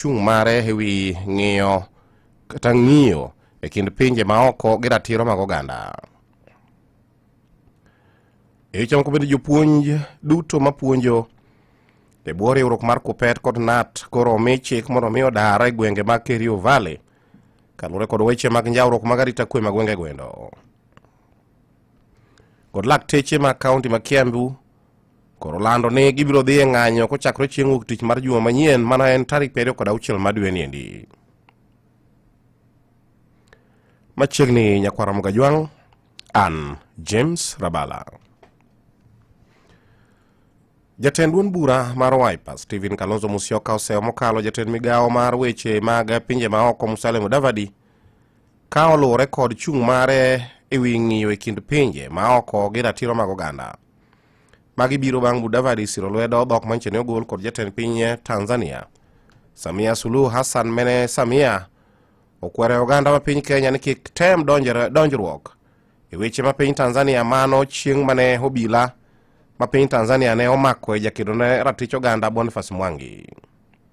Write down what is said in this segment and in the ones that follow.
chung' mare e wi ng'iyo kata ng'iyo e kind pinje maoko gi ratiro mag oganda e weche moko bende jopuonj duto mapuonjo e bwo riwruok mar kupet kod nat koro omi chik mondo omi odara e gwenge mag kerio valley kaluwore kod weche mag njawruok mag arita kwe ma gwenge gwendo kod lakteche ma kaunti ma kiambu koro lando ni gibiro dhi e ng'anyo kochakore chieng' wuok tich mar juma manyien mana en tarik piero kod auchiel ma dwe ni endi machiegni nyakwara mugajwang' an james rabala jatend duond bura mar wiper stephen kalonzo musyoka oseyo mokalo jatend migawo mar weche mag pinje maoko musale mudavadi ka oluwore kod chung' mare e wi ng'iyo e kind pinje maoko gi ratiro mag oganda Magi biro bang' Mudavadi siro lwedo dhok manyiso ni ogol kod jatend piny Tanzania Samia Suluhu Hassan mene Samia okwere oganda ma piny Kenya ni kik tem donjruok e weche ma piny Tanzania mano chieng' mane obila ma piny Tanzania ne omako e jakedo ne ratich oganda Boniface Mwangi.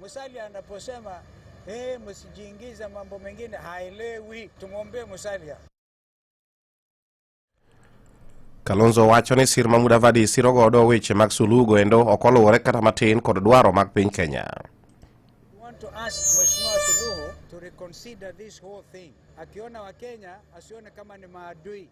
Musalia anaposema hey, eh, msijiingiza mambo mengine, haelewi. Tumwombee Musalia. Kalonzo wacho ni sir ma Mudavadi siro godo weche mag sulugo endo ok oluwore kata matin kod dwaro mag piny Kenya. Akiona Wakenya asione kama ni maadui.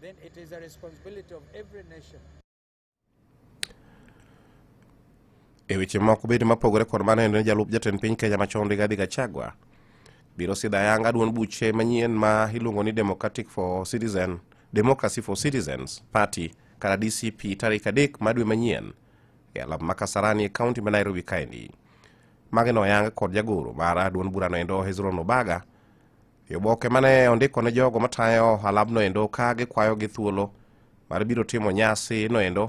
Then it is a responsibility of every nation e weche moko bende mapogore kod mano en jalup jatend piny kenya machon rigathi gachagua biro sidho ayanga duond buche manyien ma iluongo ni democratic for citizen democracy for citizens party kata dcp tarik adek ma dwe manyien e alap ma kasarani e kaunti ma nairobi kaendi mage noyang kod jagoro mar duond burano endo hezron obaga E oboke ma ne ondiko ne jogo matayo ohalabno endo ka gikwayogi thuolo mar biro timo nyasi noendo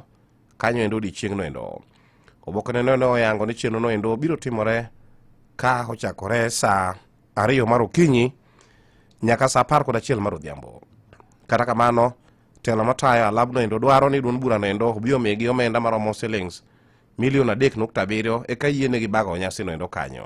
kanyo endo odiechieng' noendo oboke ne ne oyango ni chenro noendo biro timore ka ochakore saa ariyo mar okinyi nyaka saa apar kod achiel mar odhiambo kata kamano telo matayo alab noendo dwaro ni duond bura noendo obi omigi omenda maromo silings milion adek nukta abiriyo eka yienegi bago nyasi noendo kanyo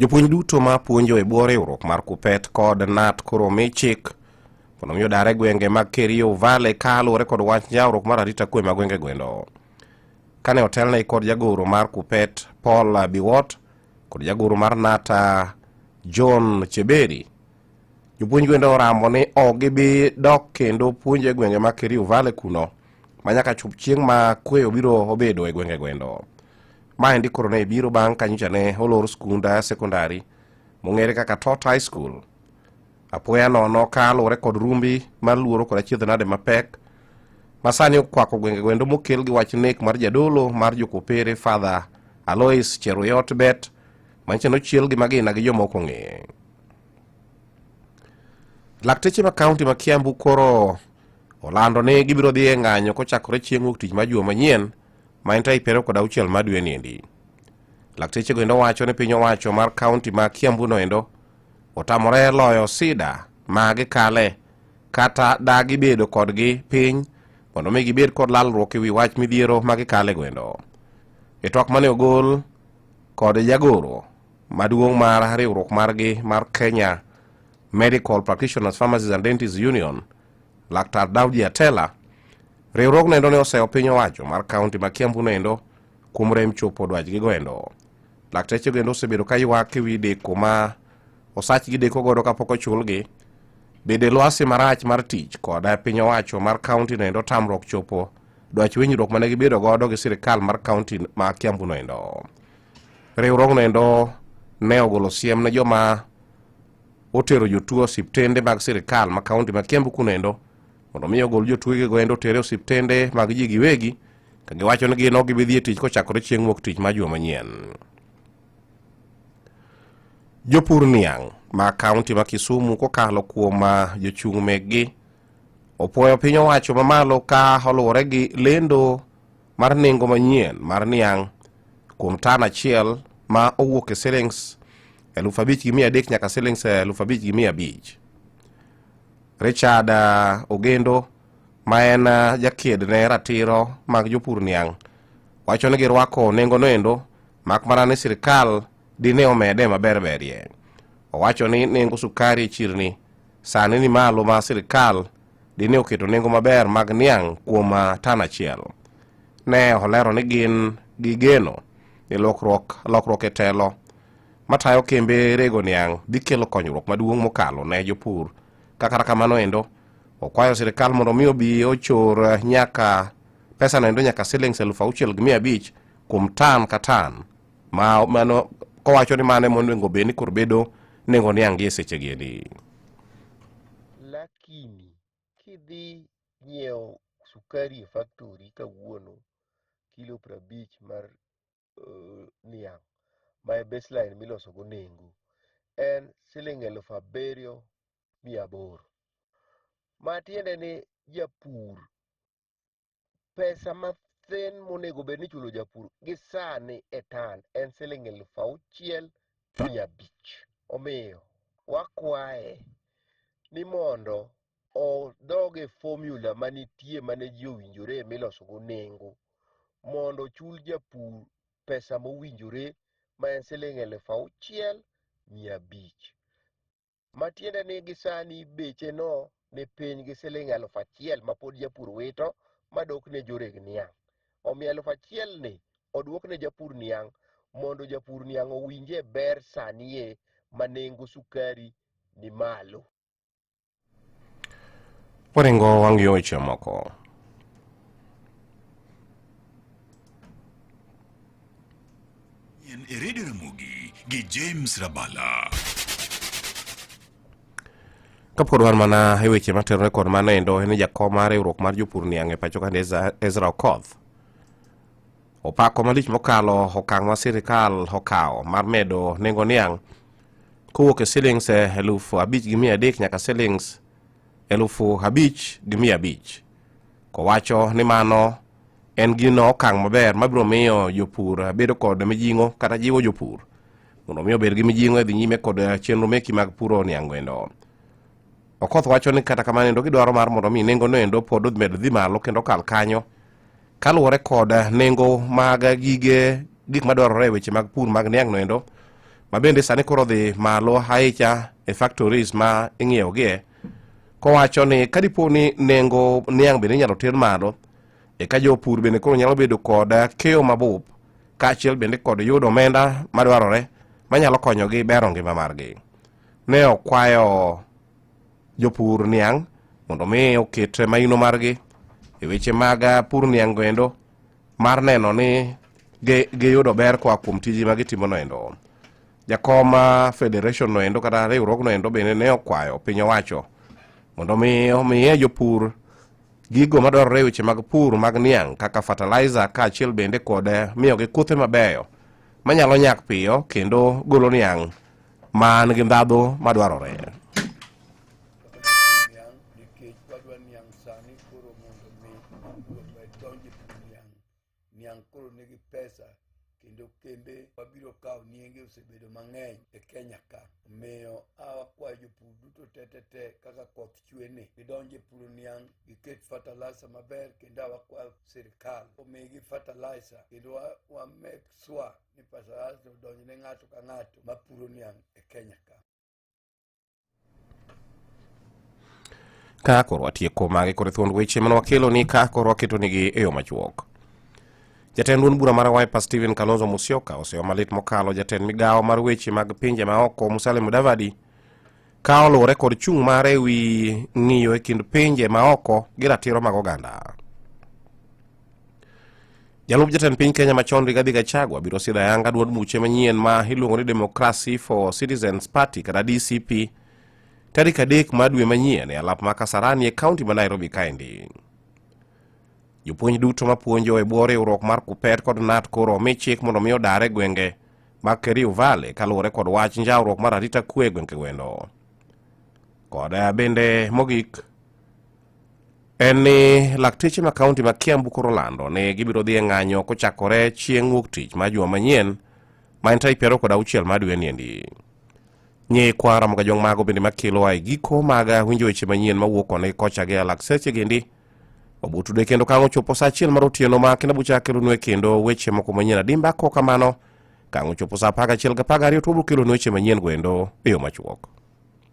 jopuonj duto ma puonjo e bwo riwruok mar kupet kod nat koro omi chik mondo mi odare gwenge mag kerio vale ka luwore kod wach jawruok mar arita kwe ma gwenge gwendo kane otelne kod jagoro mar kupet paul biwot kod jagoro mar nata john cheberi jopuonj gwendo orambo ni ok gibi dok kendo puonjo e gwenge mag kerio vale kuno ma nyaka chop chieng' ma kwe obiro obedo e gwenge gwendo. Ma endi koro ne biro bang' ka nyocha ne olor skunda sekondari mong'ere kaka Tot High School. Apoya nono ka luwore kod rumbi mar luoro kod achiedh nade mapek ma sani okwako gwenge gwendo mokel gi wach nek mar jadolo mar jokopere Father Alois Cheruyot Bet manyicha nochiel gi magina gi joma ok ong'e. Lakteche ma kaunti ma Kiambu koro Olando ni gibiro dhi e ng'anyo kochakore chieng' wuok tich ma juma manyien ma en tarik piero kod auchiel ma dwe ni endi. Lakteche go endo wacho ni piny owacho mar kaunti ma Kiambu no endo otamore loyo sida ma gikale kata da gibedo kodgi piny mondo mi gibed kod lalruok e wi wach midhiero ma gikale go endo. E twak mane ogol kod jagoro maduong' mar riwruok margi mar Kenya Medical Practitioners Pharmacies and Dentists Union, Laktar Daudi Atela, riwruogno endo ne oseyo piny owacho mar kaunti ma Kiambu noendo kuom rem chopo dwachgigo endo. Laktechego endo osebedo ka ywak e wi deko ma osachgi deko godo kapok ochulgi bede lwasi marach mar tich kod piny owacho mar kaunti noendo tamruok chopo dwach winjruok mane gibedo godo gi sirikal mar kaunti ma kiambu noendo Riwruogno endo ne ogolo siem ne joma otero jotuo osiptende mag sirikal ma kaunti ma Kiambu kuno endo mondo mi ogol jotuegego endo otere osiptende mag ji giwegi ka giwacho ni gin ok gibi dhi e tich kochakore chieng' wuok tich ma juma manyien. Jopur niang' ma kaunti ma Kisumu kokalo kuom ah, jochung' meggi opwoyo piny owacho mamalo ka oluwore gi lendo mar nengo manyien mar niang' kuom tan achiel ma owuok e silings eluf abich gi mia adek nyaka silings eluf abich gi mia abich. Richard uh, Ogendo ma en uh, jakied ne ratiro mag jopur niang' wacho ni girwako nengo noendo mak mana ni sirikal dine omede maber berie. Owacho ni nengo sukari e chirni sani ni malo ma sirikal dine oketo nengo maber mag niang' kuom ah, tan achiel. Ne olero ni gin gi geno ni lokruok lokruok e telo matayo kembe rego niang' dhi kelo konyruok maduong' mokalo ne jopur ka kata kamano endo okwayo sirikal mondo mi obi ochor ah, nyaka pesano endo nyaka silings elfu auchiel gi mia abich kuom tan ka tan ma mano kowacho ni mano ema onego bed ni koro bedo nengo niang' gi e sechegi endi Let maskini kidhi nyiewo sukari e factory kawuono kilo prabich mar uh, niang' ma e baseline miloso go nengo en siling' elufu abiriyo mia aboro ma tiende ni japur pesa mathin monego bed ni ichulo japur gi sani e tan en siling eluf auchiel gi mia abich. Omiyo wakwaye ni mondo odog e formula manitie mane ji owinjore milosogo nengo mondo ochul japur pesa mowinjore ma en siling eluf auchiel mia abich. matiende ni gisani beche no ni piny gi siling eluf achiel ma pod japur wito madok ne joreg niang'. Omiyo eluf achiel ni odwok ne japur niang' mondo japur niang' owinje ber sanie ma nengo sukari ni malo. Waringo wang' yo weche moko. En e Radio Ramogi gi James Rabala. Kapod wan mana e weche materore kod mano endo en ni jakom mar riwruok mar jopur niang' e pacho kani Ezra Okoth opako malich mokalo okang' ma sirikal okawo mar medo nengo niang' kowuok e silings eh, elufu abich gi mia adek nyaka silings elufu abich gi mia abich kowacho ni mano en gino okang' maber mabiro miyo jopur bedo kod mijing'o kata jiwo jopur mondo mi obed gi mijing'o e dhi nyime kod eh, chenro meki mag puro niango endo okoth wacho ni kata kamano endo gidwaro mar mondo mi nengo no endo pod med dhi malo kendo kal kanyo kaluwore kod eh, nengo mag gige gik madwarore e weche mag pur mag niang' no endo ma bende sani koro dhi malo ahicha e factories ma ing'iewogie kowacho ni kadipo ni nengo niang' bende inyalo ter malo eka jopur bende koro nyalo bedo kod keyo mabup kaachiel bende kod yudo omenda madwarore manyalo konyogi bero ngima margi ne okwayo jopur niang' mondo mi oket maino margi e weche mag pur niang' goendo mar neno ni giyudo ber koa kuom tiji ma gitimono endo jakom ah, federation no endo kata riwruogno endo bende ne okwayo piny owacho mondo mi omiye jopur gigo madwarore e weche mag pur mag niang' kaka fertilizer kaachiel bende kod eh, miyogi kothe mabeyo manyalo nyak piyo kendo golo niang' man gi ndhadhu madwarore niang' koro nigi pesa kendo kembe wabiro kawo nienge osebedo mang'eny e kenya ka omiyo awakwayo jopur duto tetete kaka koth chwe ni gidonje puro niang' giket fertilizer maber kendo awakwayo sirikal omigi fertilizer kendo wamek swa ni fertilizer odonjne ng'ato ka ng'ato mapuro niang' e kenya ka Ka koro watieko magi kod thuond weche mane wakelo ni ka koro waketo nigi e yo machuok. Jatend duond bura mar Wiper Stephen Kalonzo Musyoka oseyo malit mokalo jatend migawo mar weche mag pinje maoko Musalia Mudavadi ka oluwore kod chung' mare e wi ng'iyo e kind pinje maoko gi ratiro mag oganda. Jalup jatend piny Kenya machon Rigathi Gachagua biro sidho ayanga duond buche manyien ma iluongo ni Democracy for Citizens Party kata DCP tarik adek mar dwe manyien e alap ma Kasarani e kaunti ma Nairobi kaendi. Jopuonj duto mapuonjo e bwo riwruok mar KUPPET kod NAT koro omi chik mondo mi odar e gwenge mag Kerio Valley kaluwore kod wach njawruok mar arita kwe e gwenge wendo. Kod bende mogik en ni lakteche ma kaunti ma Kiambu koro lando ni gibiro dhi e ng'anyo kochakore chieng' wuok tich ma juma manyien ma en tarik piero kod auchiel ma dwe niendi. Ng'e kwara moga jong mago bende makelo ae giko mag winjo weche manyien ma wuok koni kocha gi lakseche gendi obutude kendo kang' ochopo sa achiel mar otieno ma kina bucha kelonue kendo weche moko manyien adimba ko kamano kang' ochopo sa apar gachiel gi apar gariyo to wabiro kelonu weche manyien goendo e yo machuok.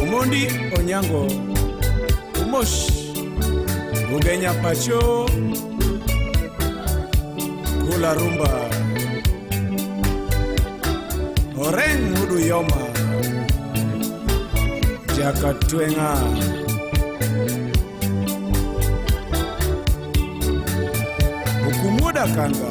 Omondi Onyango Omosh Bugenya Pacho Kula Rumba Oreng Mudu Yoma Jakatwenga Ukumuda Kanga